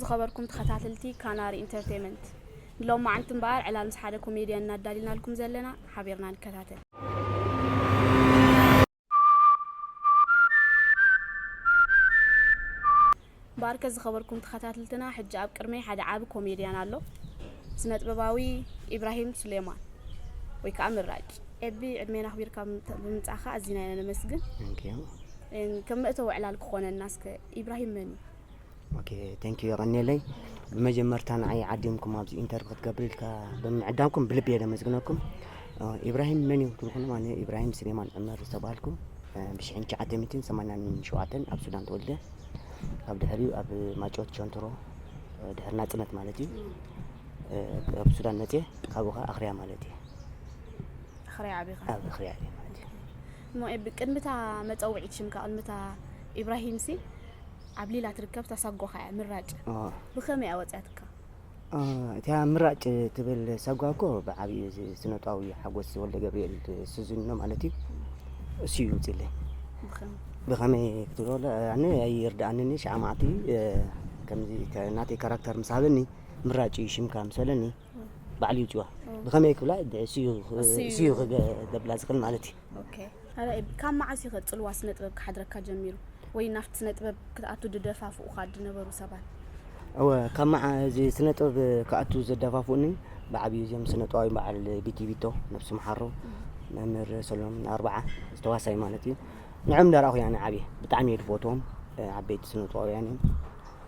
ዝኸበርኩም ተኸታተልቲ ካናሪ ኢንተርቴንመንት ንሎም መዓልቲ እምበኣር ዕላል ምስ ሓደ ኮሜድያን እናዳሊናልኩም ዘለና ሓቢርና ንከታተል ባርከ ዝኸበርኩም ተኸታትልትና ሕጂ ኣብ ቅድመይ ሓደ ዓቢ ኮሜድያን ኣሎ ስነጥበባዊ ኢብራሂም ሱሌማን ወይ ከዓ ምራጭ ኤቢ ዕድሜና ኣኽቢርካ ብምምፃእካ ኣዝና ኢና ነመስግን ከም መእተዊ ዕላል ክኾነና እስከ ኢብራሂም መን እዩ ኦኬ ቴንኪዩ የቐኔለይ ብመጀመርታ ንዓይ ዓዲምኩም ኣብዚ ኢንተርቪ ክትገብር ኢልካ ብምዕዳምኩም ብልቢ እየ ለመስግነኩም ኢብራሂም መን እዩ ትልኹም ኣነ ኢብራሂም ስሌማን ዑመር ዝተባሃልኩ ብሽሕን ትሽዓተ ሚትን ሰማንያን ሸውዓተን ኣብ ሱዳን ተወልደ ካብ ድሕሪኡ ኣብ ማጮት ቸንትሮ ድሕሪ ናፅነት ማለት እዩ ኣብ ሱዳን መፅየ ካብኡ ከዓ ኣኽርያ ማለት እዩ ኣኽርያ ዓቢኻ ኣብ ኣኽርያ እየ ማለት እዩ እሞ ኤቢ ቅድሚ እታ መጸውዒት ሽምካ ቅድሚ እታ ኢብራሂምሲ ኣብ ሊላ ትርከብ ታሳጓኻ እያ ምራጭ ብኸመይ እያ ወጽያትካ? እቲያ ምራጭ ትብል ሳጓ እኮ ብዓቢኡ እዚ ስነጥባዊ ሓጎስ ወልደገብርኤል ስዚኑኖ ማለት እዩ እሱ እዩ ውጺለይ ብኸመይ ክትብሎ ኣነ ኣይርድኣንኒ ሸዓ መዓልቲ ከምዚ ናተይ ካራክተር ምስ ሃበኒ ምራጭ እዩ ሽምካ ምስ በለኒ ባዕሉ ይውጭዋ ብኸመይ ክብላ ስዩ ክገብላ ዝኽእል ማለት እዩ ካብ መዓስ እዩ ከፅልዋ ስነ ጥበብ ክሓድረካ ጀሚሩ ወይ ናብቲ ስነ ጥበብ ክትኣቱ ድደፋፍኡካ ድነበሩ ሰባት እወ ካብ መዓ እዚ ስነ ጥበብ ክኣቱ ዘደፋፍኡኒ ብዓብዩ እዚም ስነ ጥበባዊ በዓል ቢቲ ቢቶ ነብሲ መሓሮ መምህር ሰሎም ኣርባዓ ዝተዋሳይ ማለት እዩ ንዕም ዳርኣኹ ያነ ዓብየ ብጣዕሚ እየ ድፈትዎም ዓበይቲ ስነ ጥበባውያን እዮም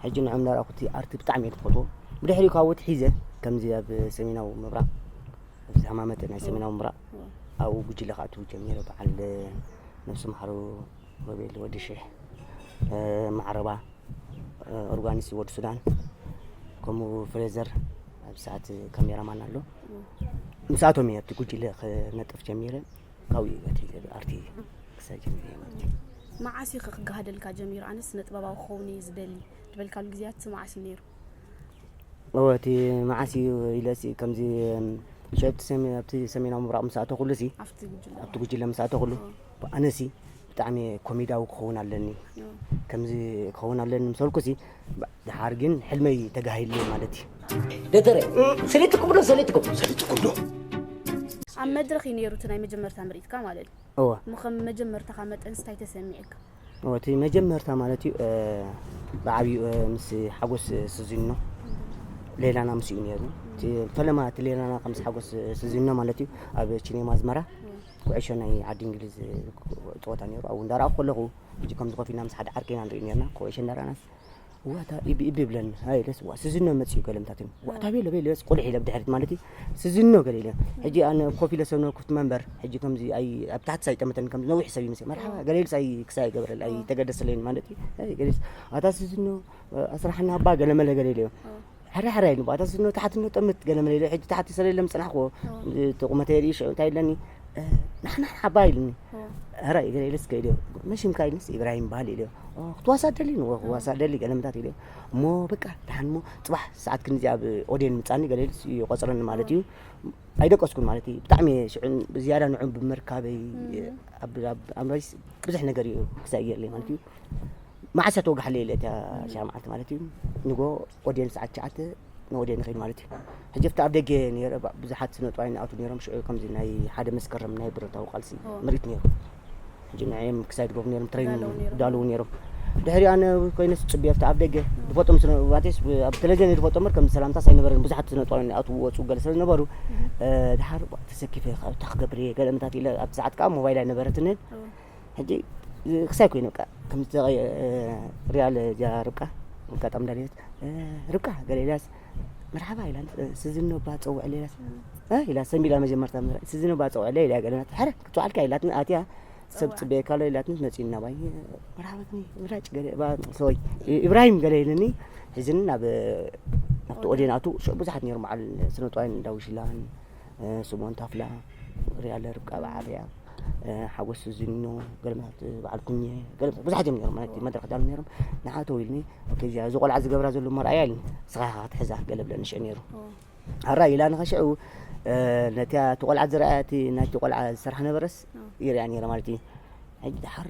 ሕጂ ንዖም ናራኩቲ ኣርቲ ብጣዕሚ እየ ትፈትዎ ብድሕሪኡ ካወት ሒዘ ከምዚ ኣብ ሰሜናዊ ምብራቕ ኣብዚ ሃማመተ ናይ ሰሜናዊ ምብራቕ ኣብኡ ጉጅለ ክኣትው ጀሚረ በዓል ነብሲ መሓሩ ሮቤል ወዲ ሽሕ ማዕረባ ኦርጋኒስ ወዲ ሱዳን ከምኡ ፍሬዘር ኣብ ሰዓት ካሜራማን ኣሎ ምስኣቶም እየ ኣብቲ ጉጅለ ክነጥፍ ጀሚረ ካብኡ እዩ እቲ ኣርቲ ክሳብ ጀሚረ እየ ማለት እዩ መዓስ እዩ ክጋሃደልካ ጀሚሩ ኣነ ስነ ጥበባዊ ክኸውን እዩ ዝደሊ ዝበልካሉ ግዜያት መዓስ እዩ ነይሩ እወ እቲ መዓስ እዩ ኢለሲ ከምዚ ሸብቲ ኣብቲ ሰሜናዊ ምብራቕ ምስ ኣተኹሉ ሲ ኣብቲ ጉጅለ ምስ ኣተኹሉ ኣነሲ ብጣዕሚ እየ ኮሜዳዊ ክኸውን ኣለኒ ከምዚ ክኸውን ኣለኒ ምስ በልኩሲ ድሓር ግን ሕልመይ ተጋሂሉ ማለት እዩ ደተረ ሰሊጥኩም ዶ ሰሊጥኩም ሰሊጥኩም ዶ ኣብ መድረኽ እዩ ነይሩ እቲ ናይ መጀመርታ ምርኢትካ ማለት እዩ እወ እሞ ከም መጀመርታኻ መጠን ስታይ ተሰሚዕካ እወ እቲ መጀመርታ ማለት እዩ ብዓብዩ ምስ ሓጎስ ስዚኖ ሌላና ምስ እዩ ነይሩ እቲ ፈለማ እቲ ሌላና ከም ምስ ሓጎስ ስዚኖ ማለት እዩ ኣብ ቺኔማ ኣዝመራ ኩዕሾ ናይ ዓዲ እንግሊዝ ጸወታ ነይሩ ኣብኡ እንዳረኣኹ ከለኹ ሕጂ ከምዚ ኮፍ ኢልና ምስ ሓደ ዓርኪ ኢና ንርኢ ነርና ኩዕሾ እንዳረኣናስ ዋታ ኢቢ ኢቢ ብለን ሃይለስ ዋ ስዝኖ መጽዩ ገለምታትን ዋታ ቤለ ቤለስ ቁልሕ ኢለ ብድሕሪት ማለት እዩ ስዝኖ ገለ ኢለ ሕጂ ኣነ ኮፍ ኢለ ሰብነ ኩፍት መንበር ሕጂ ከምዚ ኣይ ኣብ ታሕቲ ሳይጠመተን ከምዚ ነዊሕ ሰብ ይመስል መርሓባ ገለ ኢልስ ኣይ ክሳ ይገብረል ኣይ ተገደሰለይን ማለት እዩ ገለስ ኣታ ስዝኖ ኣስራሕና ኣባ ገለ መለ ገለ ኢለ ሕራይ ሕራይ ኢሉ ባታ ስኖ ታሕቲ ኖ ጠምት ገለ መለ ኢለ ሕጂ ታሕቲ ሰለ ኢለ ምጽናሕኩዎ እቲ ቁመተይ ርኢ ሽዑ እንታይ ኢለኒ ናሕና ሓባ ኢልኒ ሕራይ ገለ ኢለስ ከይደ መሽምካ ኢልንስ ኢብራሂም በሃል ኢለ ክትዋሳ ደሊ ንዎ ክዋሳ ደሊ ገለ ምታት ኢለ እሞ በቃ ደሓን እሞ ጽባሕ ሰዓት ክንዚ ኣብ ኦዴን ምጻኒ ገለ ኢልስ ይቆጽረኒ ማለት እዩ ኣይደቀስኩን ማለት እዩ ብጣዕሚ ሽዑ ብዝያዳ ንዑ ብምርካበይ ኣብ ኣምራይስ ብዙሕ ነገር እዩ ክሳይ ገይርለይ ማለት እዩ ማዓሰ ተወጋሕለይ ኢለ እታ ሻዕ ማዓልቲ ማለት እዩ ንጎ ኦዴን ሰዓት ሸዓተ ንኦዴን ንኸይድ ማለት እዩ ሕጂ ኣብቲ ኣብ ደገ ነረ ብዙሓት ስነጥዋይ ንኣቱ ነሮም ሽዑ ከምዚ ናይ ሓደ መስከረም ናይ ብረታዊ ቃልሲ ምርኢት ነይሩ ሕጂ ንዕም ክሳይ ድገብሩ ነሮም ትሬኒንግ ዳልዉ ነሮም ድሕሪ ኣነ ኮይነስ ፅቢ ኣብቲ ኣብ ደገ ድፈጦም ስነባቴስ ኣብ ቴሌቪዥን ድፈጦ ምር ከም ሰላምታ ሳይነበረ ብዙሓት ስነጥዋይ ንኣቱ ወፁ ገለ ስለዝነበሩ ድሓር ተሰኪፈ ካብታ ክገብር እየ ገለ ምታት ኢለ ኣብቲ ሰዓት ከዓ ሞባይል ኣይነበረትንን ሕጂ ክሳይ ኮይኑ በቃ ከምቲ ተቀይ ሪያል ጃ ርብቃ ኣጋጣሚ ዳንኤል ርብቃ ገለ ኢላስ መርሓባ ኢላ ስዝኖ ባ ፀውዕ ሌላስ ኢላ ሰንቢላ መጀመርታ ስዝኖ ባ ፀውዕ ሌላ ገለናት ሕረ ክትዋዓልካ ኢላትን ኣትያ ሰብ ፅበየካ ኣሎ ኢላትን መፂና ባይ መርሓባትኒ ምራጭ ገለ ባ ሰወይ ኢብራሂም ገለ ኢለኒ ሕዝን ናብ ናብቲ ኦዴን ኣቱ ብዙሓት ነይሮም በዓል ስነጥዋይን ዳዊሽላን ስምኦን ታፍላ ሪኣ ኣለ ርብቃ ኣብዓብያ ሓጎስ ዝኖ ገለመት በዓል ኩኘ ገለ ብዙሓት እዮም ነሮም ማለት መድረክ ዳሉ ነሮም ንሓቶ ኢልኒ እዚኣ እዚ ቆልዓ ዝገብራ ዘሎ መርኣያ ኢልኒ ስኻ ኢኻ ክትሕዛ ገለ ብለኒ ሽዑ ነይሩ ኣራ ኢላ ንኸሽዑ ነቲ እቲ ቆልዓ ዝረኣያ እቲ ናይቲ ቆልዓ ዝሰርሓ ነበረስ ይርያ ነይረ ማለት እዩ ሕጂ ድሓር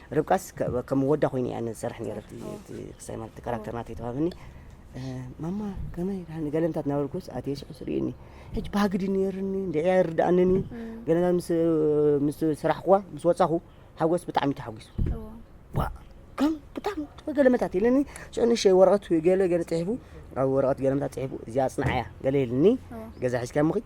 ርብቃስ ከም ወዳ ኮይኑ እያ ንሰርሕ ነይረ ክሳይ ማለት ካራክተር ናተይ ተዋብኒ ማማ ከመይ ዳኒ ገለንታት ናበልኩስ ኣትየ ሽዑስ ርእኒ ሕጂ ባህግዲ ነይርኒ እንድዕያ ይርድኣንኒ ገለንታት ምስ ምስ ስራሕኩዋ ምስ ወጻኹ ሓጎስ ብጣዕሚ ተሓጒሱ ከም ብጣዕሚ ገለመታት ኢለኒ ሽዑ ንእሸተይ ወረቐት ገለ ገለ ጽሒፉ ኣብ ወረቐት ገለመታት ጽሒፉ እዚኣ ኣጽንዓያ ገለ ኢልኒ ገዛ ሒዝካ ምኺድ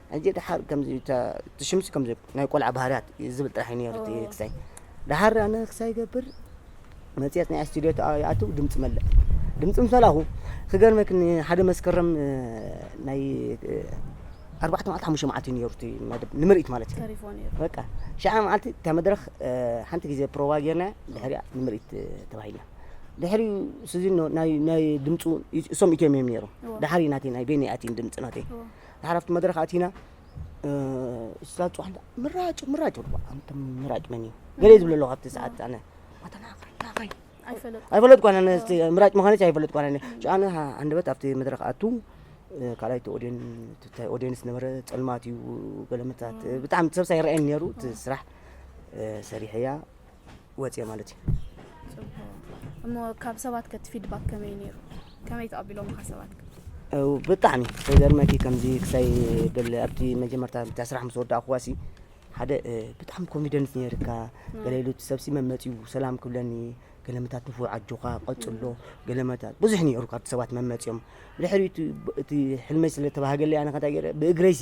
ሕጂ ደሓር ከምዚ እታ እቲ ሽምሲ ከምዚ ናይ ቆልዓ ባህርያት ዝብል ጥራሕ እዩ ነይሩ እቲ ክሳይ ደሓር ኣነ ክሳይ ገብር መጽሔት ናይ ስቱድዮ ይኣትው ድምፂ መልእ ድምፂ ምስ መላኹ ክገርመክ ንሓደ መስከረም እ፣ ናይ እ፣ ኣርባዕተ መዓልቲ ሓሙሽተ መዓልቲ እዩ ነይሩ እቲ መደብ ንምርኢት ማለት እዩ ተሪፎ ነይሩ በቃ ሽዓ መዓልቲ እታ መድረኽ እ፣ ሓንቲ ግዜ ፕሮቫ ጌርና ድሕሪያ ንምርኢት እ፣ ተባሂልና ድሕሪ ስዚኖ ናይ ናይ ድምፁ እሶም ኢትዮም እዮም ነይሮም እዎ። ድሓር እዩ ናተይ ናይ ቤኒ ኣቲን ድምፂ ናተይ እዎ። ንሓለፍቲ መድረኽ ኣቲና እዛ ፅዋሕንታ ምራጭ ምራጭ ይብሉ ኣንተ ምራጭ መን እዩ ገለ ዝብለ ኣለኹ ኣብቲ ሰዓት ኣነ ኣተናኸናኸይ ኣይፈለጥኳን ኣነ ምራጭ ምዃነች ኣይፈለጥኳን ኣነ ጭኣነ ኣንደበት ኣብቲ መድረኽ ኣቱ ካልኣይቲ ኦድዮን ትታይ ኦድዮንስ ነበረ ፀልማት እዩ ገለመታት ብጣዕሚ ሰብሳ ይረአየኒ ነይሩ እቲ ስራሕ ሰሪሐያ ወፅየ ማለት እዩ እሞ ካብ ሰባት ከቲ ፊድባክ ከመይ ነይሩ ከመይ ተቐቢሎምኻ ሰባት ብጣዕሚ ተገርመኪ ከምዚ ክሳይ ብል ኣብቲ መጀመርታ ታ ስራሕ ምስ ወዳእኩዋሲ ሓደ ብጣዕሚ ኮንፊደንስ ነይርካ ገለ ኢሉ ሰብሲ መመፅኡ ሰላም ክብለኒ ገለመታት ንፉዕ ኣጆኻ ቀፅሎ ገለመታት ብዙሕ ነይሩ ካብቲ ሰባት መመፅኦም ድሕሪ እቲ ሕልመይ ስለተባሃገለይ ኣነ ከንታይ ገይረ ብእግረይሲ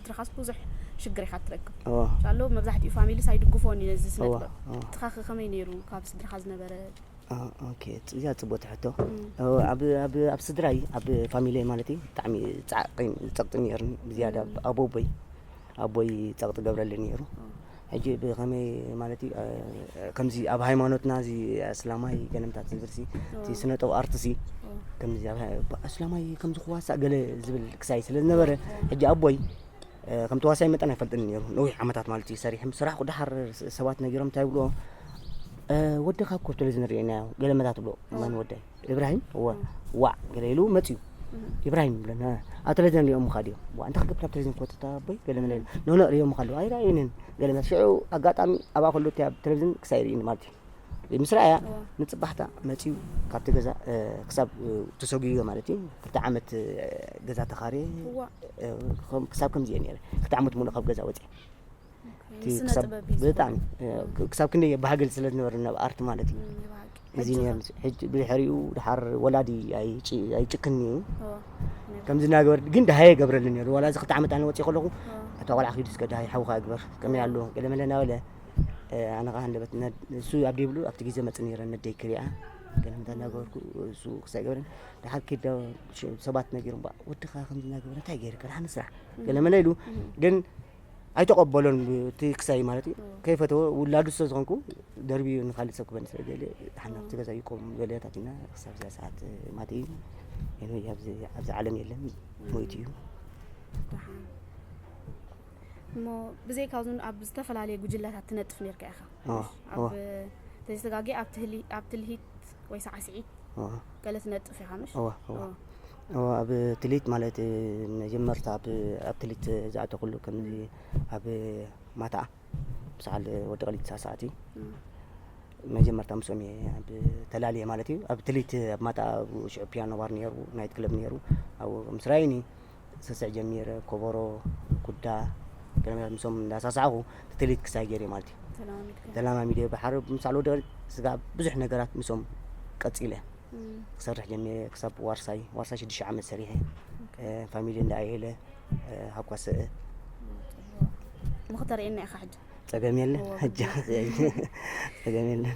ትርኻስ ብዙሕ ሽግር ኢኻ ትረክብ ሻሎ መብዛሕትኡ ፋሚሊስ ኣይድግፎን እዩ ነዚ ስነ ጥበብ ትኻኸ ከመይ ነይሩ ካብ ስድራኻ ዝነበረ እዚኣ ፅቡቅ ሕቶ ኣብ ስድራይ ኣብ ፋሚሊ ማለት እዩ ብጣዕሚ ፃዕቂን ፀቅጢን ነይሩኒ ብዝያዳ ኣቦቦይ ኣቦይ ፀቅጢ ገብረሊ ነይሩ ሕጂ ብከመይ ማለት እዩ ከምዚ ኣብ ሃይማኖትና እዚ ኣስላማይ ገለምታት ዝብልሲ እቲ ስነጠብ ኣርትሲ ከምዚ ኣስላማይ ከምዚ ክዋሳእ ገለ ዝብል ክሳይ ስለ ዝነበረ ሕጂ ኣቦይ ከም ተዋሳይ መጠን ኣይፈልጥን ነይሩ ነዊሕ ዓመታት ማለት እዩ ሰሪሕም ስራሕ ኩዳሓር ሰባት ነጊሮም እንታይ ብልዎ ወደካ ኮ ቴሌቪዥን ርኤናዮ ገለመታት ብሎ መን ወደይ ኢብራሂም እወ ዋዕ ገለ ኢሉ መፅዩ ኢብራሂም ይብለና ኣብ ቴሌቪዥን ሪኦሙኻ ድዮም ዋ እንታይ ክገብር ኣብ ቴሌቪዥን ክወፅታ ኣቦይ ገለ መለ ኢሉ ኖኖ ሪኦሙኻ ኣለዉ ኣይረኣዩንን ገለ መለ ሽዑ ኣጋጣሚ ኣብኣ ከሎ እቲ ኣብ ቴሌቪዥን ክሳብ ይርእኒ ማለት እዩ ምስ ረኣያ ንፅባሕታ መፅዩ ካብቲ ገዛ እ፣ ክሳብ እ፣ ተሰጉዮ ማለት እዩ ክልተ ዓመት እ፣ ገዛ ተኻርየ እዋ እ፣ ከም- ክሳብ ከምዚ እየ ነይረ ክልተ ዓመት ሙሉእ ካብ ገዛ ወፅየ ብጣዕሚ ክሳብ ክንደይ ባህግል ስለ ዝነበረ ናብ ኣርት ማለት እዩ እዚ ነር ሕጂ ብድሕሪኡ ድሓር ወላዲ ኣይጭክን እዩ ከምዚ እናገበር ግን ድሃየ ገብረሉ ነሩ ዋላ እዚ ክልተ ዓመት ኣነ ወፂእ ከለኹ እታ ቆልዓ ክይዱ እስከ ድሃይ ሓውካ ግበር ከመይ ኣሎ ገለ መለ እናበለ ኣነ ከዓ ሃንደበት እሱ ኣብ ደይብሉ ኣብቲ ግዜ መፅ ነረ ነደይ ክሪኣ ገለ ምታ እናገበርኩ እሱ ክሳይ ገብረን ድሓር ክዳ ሰባት ነጊሮም ወድኻ ከምዚ እናገበረ እንታይ ገይርካ ድሓን ስራሕ ገለ መለ ኢሉ ግን ኣይተቐበሎን እቲ ክሳይ ማለት እዩ ከይፈተወ ውላዱ ስለ ዝኾንኩ ደርብዩ ንካልእ ሰብ ክበኒ ስለ ደልየ ተሓናፍቲ ገዛ ይቆም በለያታት ኢና ክሳብ እዚኣ ሰዓት ማት እዩ ሄኖይ ኣብዚ ኣብዚ ዓለም የለን ሞይቱ እዩ እሞ ብዘይ ካብዚ ኣብ ዝተፈላለየ ጉጅለታት ትነጥፍ ነርካ ኢኻ እዋ፣ እዋ። ኣብ ተዘጋጊ ኣብ ትልሂት ወይ ሳዕስዒት ገለ ትነጥፍ ኢኻ ምሽ ኣብ ክሊት ማለት መጀመርታ ኣብ ክሊት ዝኣተኩሉ ከምዚ ኣብ ማታኣ ብሰዓል ወዲ ቀሊት ሳሰዓቲ መጀመርታ ምስኦም እየ ኣብ ተላልየ ማለት እዩ ኣብ ትሊት ኣብ ማታ ሽዑ ፒያኖ ባር ነሩ ናይት ክለብ ነሩ ኣብ ምስራይኒ ስስዕ ጀሚረ ኮቦሮ ኩዳ ገረመታት ምስኦም እንዳሳሳዕኹ ትትሊት ክሳይ ገይረ ማለት እዩ ተለማሚድካ ተለማሚደ ብሓረ ምሳዕ ልወደቀ ስጋዕ ብዙሕ ነገራት ምስኦም ቀፂለ እም፣ ክሰርሕ ጀሚረ ክሳብ ዋርሳይ ዋርሳይ ሽዱሽተ ዓመት ሰሪሐ እ፣ ፋሚሊ እንዳ ኣይሄለ እ፣ ሃኳሰእ ንኽተርእየና ኢኻ ሕጂ ፀገም የለን እዋ፣ ሕጂ ፀገም የለን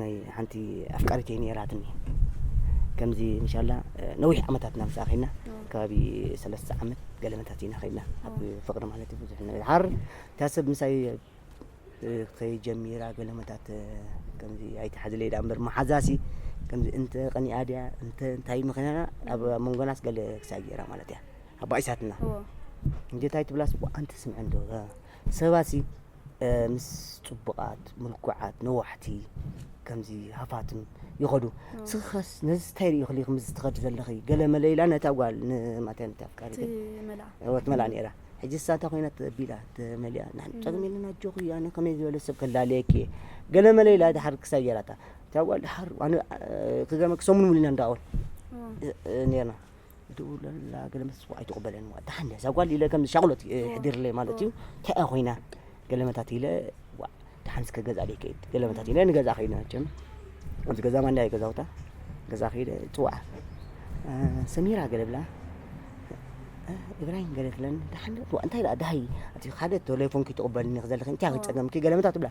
ናይ ሓንቲ ኣፍቃሪተይ ነይራትኒ ከምዚ እንሻላ ነዊሕ ዓመታትና ምስ ከይድና ከባቢ ሰለስተ ዓመት ገለመታት ኢና ከይድና ኣብ ፍቅሪ ማለት እዩ ብዙሕ ነገር ሓር እታ ሰብ ምሳይ ከይጀሚራ ገለመታት ከምዚ ኣይትሓዝለይ ዳ እምበር መሓዛሲ ከምዚ እንተ ቀኒኣ ድያ እንተ እንታይ ምክንያና ኣብ መንጎናስ ገለ ክሳይ ገይራ ማለት እያ ኣባኢሳትና እንጀታይ ትብላስ ኣንቲ ስምዐ እንዶ ሰባሲ ምስ ጽቡቃት ምልኩዓት ነዋሕቲ ከምዚ ሃፋትም ይኸዱ ስኽኸስ ነዚ ታይ ሪኢኽ ሊ ከምዚ ትኸዲ ዘለኺ ገለ መለ ኢላ ነታ ጓል ንማታይ ነቲ ኣፍቃሪት ወት መላ ነይራ ሕጂ ሳታ ኮይና ተቢላ ተመሊያ ንሕን ጸግም የለን ኣጆኺ ኣነ ከመይ ዝበለ ሰብ ከላለየኪ እየ ገለ መለ ኢላ ድሓር ክሳብ ጌራታ እታ ጓል ድሓር ክገርመኪ ሰሙን ሙሉ ኢና ንራኸበን ነርና ደውለላ ገለ መት ፅዋዕ ኣይትቕበለን እዋ ደሓን እዛ ጓል ኢለ ከም ሻቕሎት ይሕድርለይ ማለት እዩ እንታይ እያ ኮይና ገለ መታት ኢለ ዋእ ደሓን እስከ ገዛ ደይ ከይድ ገለ መታት ኢለ ንገዛ ከይድ ናቸም ኣብዚ ገዛ ማንዳ እዩ ገዛውታ ገዛ ከይደ ፅዋዕ ሰሚራ ገለ ብላ እብራሂም ገለ ትብለን ደሓን እንታይ ደኣ ደሃይ እቲ ሓደ ቴሌፎንኪ ትቕበልኒ ዘለኺ እንታይ ክፀገምኪ ገለ መታት ትብላ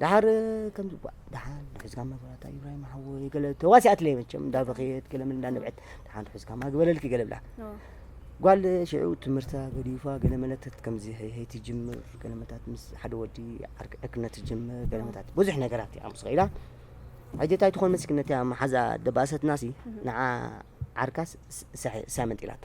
ደሓር ከምዚ ጓዕ ደሓን ሒዝካማ በላታ ኢብራሂም ሓወይ ገለ ተዋሲኣትለይ መቸም እንዳበኸየት ገለ ምን እንዳነብዐት ደሓን ሒዝካማ ግበለልኪ ገለ ብላ ጓል ሽዑ ትምህርታ ገዲፋ ገለ መለተት ከምዚ ሄይ ትጅምር ገለ መታት ምስ ሓደ ወዲ ዕርክነት ትጅምር ገለ መታት ብዙሕ ነገራት እያ ምስ ኸኢላ ሕጂ እንታይ ትኾን መስኪነት እያ መሓዛ ደባሰትናሲ ንዓ ዓርካስ ሳመንጢላታ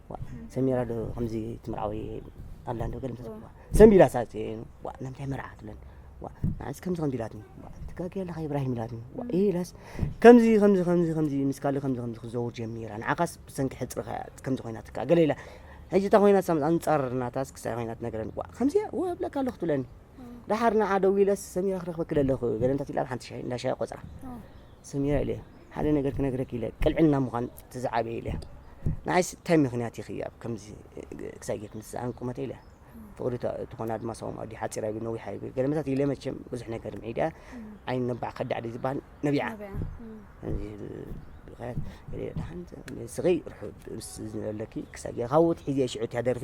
ሰሚራ ዶ ከምዚ ትምርዓዊ ኣላ ዶ ገለ ምተዘብዋ ሰንቢላ ሳጽ ዋ ናምታይ መርዓ ትብለን ዋ ንዓስ ከምዚ ከምዚ ኢላትኒ ዋ ትጋጊ ኣለኻ ኢብራሂም ኢላትኒ ዋ ኢላስ ከምዚ ከምዚ ከምዚ ከምዚ ምስ ካልእ ከምዚ ከምዚ ክዘውር ጀሚራ ንዓኻስ ብሰንኪ ሕጽርኻ ከምዚ ኮይናትካ ገለ ኢላ ሕጂ እታ ኮይናት ኣንጻር ናታስ ክሳይ ኮይናት ነገረን ዋ ከምዚ ዋ እብለካ ኣለኹ ትብለኒ ደሓር ንዓ ደው ኢለስ ሰሚራ ክረኽበኪ ደለኹ ገለ እንታት ኢላ ኣብ ሓንቲ ሻሂ እንዳ ሻሂ ቆፅራ ሰሚራ ኢለ ሓደ ነገር ክነግረኪ ኢለ ቅልዕና ምዃን ትዝዓበየ ኢለ ንዓይስ እንታይ ምክንያት ኢኺ ኣብ ከምዚ ክሳይ ጌርክ ምስ ዝዓን ቁመተ ኢለ ፍቕሪ ትኾና ድማ ሰውም ኣዲ ሓፂራ ይብል ነዊሓ ይብል ገለመታት ኢለ መቸም ብዙሕ ነገር ምዒድያ ዓይን ነባዕ ከዳዕ ድዩ ዝበሃል ነቢዓ ድሓን ስኺ ርሑብ ምስ ዝነበለኪ ክሳይ ጌርካ ውት ሒዜ ሽዑ እትያ ደርፊ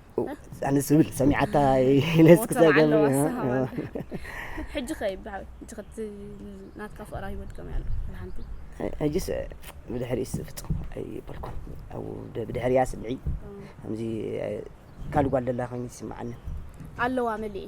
ኣነስ ዝብል ሰሚዓታ ነስ ክሳብ ሕጂ ከ ብሓወይ እቲ ክቲ ናትካ ፍቕራ ሂወት ከመይ ኣሎ ሓንቲ ሕጂስ ብድሕሪስ ፍጹም ኣይበልኩን ኣብ ብድሕሪያ ስምዒ ከምዚ ካልእ ጓል ደላ ኮይኒ ይስምዓኒ ኣለዋ መሊእ